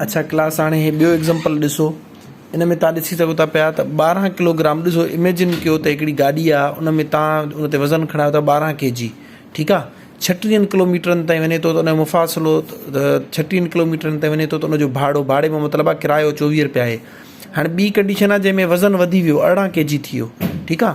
اڇا ڪلاس هاڻي هي ٻيو ايگزامپل ڏسو ان ۾ تان ڏسي سگهو ٿا پيا ته ٻارهن ڪلوگرام ڏسو اميجن ڪيو ته هڪڙي گاڏي آ ان ۾ تان ان تي وزن کڻايو ٿا ٻارهن ڪي جي ٺيڪ آ ڇٽيهن ڪلوميٽرن تائين وڃي ٿو ته ان جو مفاصلو ڇٽيهن ڪلوميٽرن تائين وڃي ٿو ته ان جو ڀاڙو ڀاڙي ۾ مطلب آ ڪرايو چوويهه روپيا آهي هاڻي ٻي ڪنڊيشن آ جنهن ۾ وزن وڌي ويو ارڙهن ڪي جي ٿي ويو ٺيڪ آ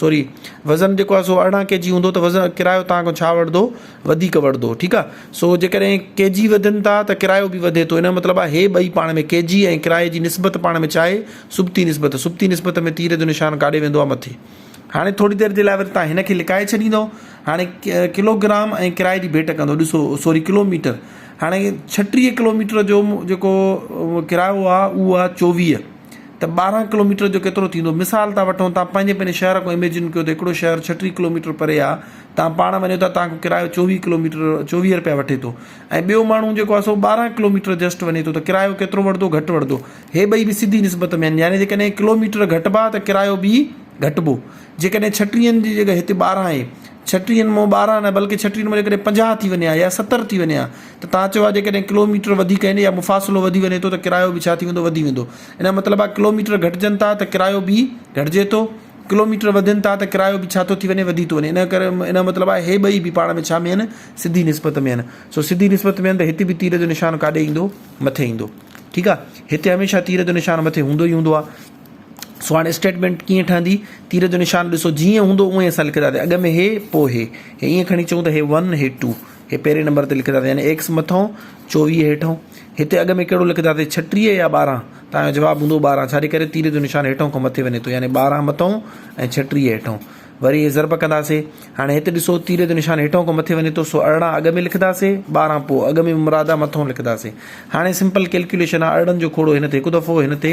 سوري وزن جيڪو آهي سو ارڙهن ڪي جي هوندو ته وزن ڪرايو تان کان ڇا وڙدو وڌيڪ وڙدو ٺيڪ آهي سو جيڪڏهن ڪي جي وڌن ٿا ته ڪرايو به وڌي ٿو ان جو مطلب آهي هي ٻئي پاڻ ۾ ڪي جي ۽ ڪرايي جي نسبت پاڻ ۾ ڇا آهي سبتي نسبت سبتي نسبت ۾ تير جو نشان ڪاڏي ويندو آهي مٿي هاڻي ٿوري دير جي لاء وري تان هن کي لڪائي ڇڏيندو هاڻي ڪلوگرام ۽ ڪرايي جي ڀيٽ ڪندو ڏسو سوري ڪلوميٽر هاڻي ڇٽيهه ڪلوميٽر جو جيڪو ڪرايو آهي اهو آهي چوويهه ته ٻارهن ڪلوميٽر جو ڪيترو ٿيندو مثال ٿا وٺون تان پنهنجي پنهنجي شهر کان اميجن ڪيو ته هڪڙو شهر ڇٽيهه ڪلوميٽر پري آ تان پاڻ وڃو ٿا تان کان ڪرايو چوويهه ڪلوميٽر چوويهه رپيا وٺي ٿو ۽ ٻيو ماڻهو جيڪو آ سو ٻارهن ڪلوميٽر جسٽ وڃي ٿو ته ڪرايو ڪيترو وٺدو گهٽ وٺدو هي ٻئي به سڌي نسبت ۾ آهن يعني جيڪڏهن ڪلوميٽر گهٽبا ته ڪرايو به گهٽبو جيڪڏهن ڇٽيهن جي جڳهه هتي ٻارهن آهي ڇٽيهن مون ٻارهن نه بلڪه ڇٽيهن مون جيڪڏهن پنجاهه ٿي وڃي ها يا ستر ٿي وڃي ها ته توهان چئو ها جيڪڏهن ڪلوميٽر وڌيڪ آهن يا مفاصلو وڌي وڃي ٿو ته ڪرايو به ڇا ٿي ويندو وڌي ويندو ان جو مطلب آهي ڪلوميٽر گهٽجن ٿا ته ڪرايو به گهٽجي ٿو ڪلوميٽر وڌن ٿا ته ڪرايو به ڇا ٿو ٿي وڃي وڌي ٿو وڃي ان ڪري ان جو مطلب آهي هي ٻئي به پاڻ ۾ ڇا ۾ آهن سڌي نسبت ۾ آهن سو سڌي نسبت ۾ آهن ته هتي به تير جو نشان ڪاڏي ايندو مٿي ايندو ٺيڪ آهي هتي هميشه تير جو نشان مٿي هوندو ئي هوندو آهي سواڻ اسٽيٽمينٽ ڪيئن ٺهندي، تير جو نشان ڏسو جيئن هوندو اونئين اسان لکنداسين اڳ ۾ هي پوء هي هي ائين کڻي چئون ته هي ون هي ٽو هي پهرين نمبر تي لکنداسين يعني ايڪس مٿئون چوويهه هيٺئون هتي اڳ ۾ ڪهڙو لکنداسين ڇٽيهه يا ٻارهن توهان جو جواب هوندو ٻارهن ڇاجي ڪري تير جو نشان هيٺئون کان مٿي وڃي ٿو يعني ٻارهن مٿئون ۽ ڇٽيهه هيٺئون وري هي ضرب ڪنداسين هاڻي هت ڏسو تير جو نشان هيٺئون کان مٿي وڃي ٿو سو ارڙهن اڳ ۾ لکنداسين ٻارهن پوء اڳ ۾ مراد مٿئون لکنداسين هاڻي سمپل ڪيلڪيوليشن آهي ارڙهن جو کوڙو هن تي هڪ دفعو هن تي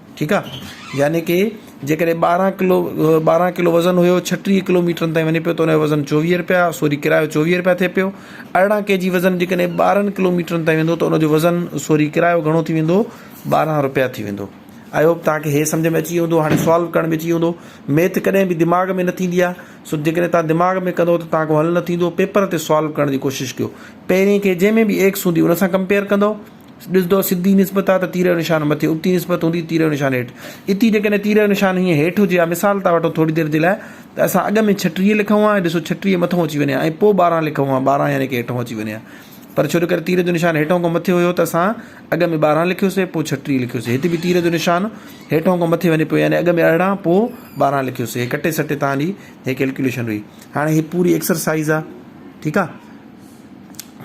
ٺيڪ آ يعني ڪي جيڪڏهن ٻارهن ڪلو ٻارهن ڪلو وزن هيو ڇٽيهه ڪلو ميٽرن تائين وڃي پيو ته ان جو وزن چوويهه رپيا سوري ڪرايو چوويهه رپيا ٿئي پيو ارڙهن ڪي جي وزن جيڪڏهن ٻارهن ڪلو ميٽرن تائين ويندو ته ان جو وزن سوري ڪرايو گهڻو ٿي ويندو ٻارهن رپيا ٿي ويندو آئي هوپ تان کي هي سمجھ ۾ اچي ويندو هاڻي سوال ڪرڻ ۾ اچي ويندو ميٿ ڪڏهن به دماغ ۾ نه ٿيندي آ سو جيڪڏهن تان دماغ ۾ ڪندو ته تان کان حل نه ٿيندو پيپر تي سوال ڪرڻ جي ڪوشش ڪيو پهرين کي جنهن ۾ به ايڪس هوندي ان سان ڪمپيئر ڪندو ڏسندؤ سڌي نسبت آ ته تير جو نشان مٿي، ابتي نسبت هوندي ته تير جو نشان هيٺ. اتي جيڪڏهن تير جو نشان هيئن هيٺ هجي ها، مثال ٿا وٺون ٿوري دير جي لاء ته اسان اڳ ۾ ڇٽيهه لکون ها ۽ ڏسو ڇٽيهه مٿئون اچي وڃي ها ۽ پوء ٻارهن لکون ها، ٻارهن يعني ڪه هيٺئون اچي وڃي ها پر ڇو جو ڪري تير جو نشان هيٺئون کان مٿي هيو ته اسان اڳ ۾ ٻارهن لکيوسين پوء ڇٽيهه لکيوسين. هت به تير جو نشان هيٺئون کان مٿي وڃي پيو يعني اڳ ۾ ارڙهن پوء ٻارهن لکيوسين. هي ڪٽي سٽي توهان جي هي ڪيلڪيوليشن هئي. هاڻي هي پوري ايڪسرسائيز آ. ٺيڪ آ.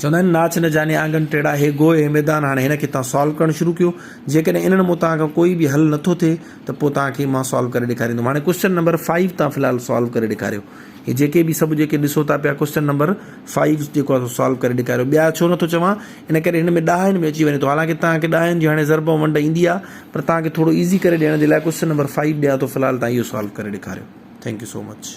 چوندا آهن ناچ نه جاني آنگن ٽيڙا هي گوء هي ميدان هاڻي هن کي تان سالو ڪرڻ شروع ڪيو جيڪڏهن انهن مون تان کان ڪوئي به حل نٿو ٿئي ته پو تان کي مان سالو ڪري ڏيکاريندم هاڻي ڪوسچن نمبر فائيو تان فلحال سالو ڪري ڏيکاريو هي جيڪي به سڀ جيڪي ڏسو ٿا پيا ڪوسچن نمبر فائيو جيڪو آهي سالو ڪري ڏيکاريو ٻيا ڇو نٿو چوان ان ڪري هن ۾ ڏهائن ۾ اچي وڃي ٿو حالانڪه تان کي ڏهائن جي هاڻي ضرب ۽ ونڊ ايندي آهي پر تان کي ٿورو ايزي ڪري ڏيڻ جي لاء ڪوسچن نمبر فائيو ڏيان ٿو فلحال تان اهو سالو ڪري ڏيکاريو ٿينڪ يو سو مچ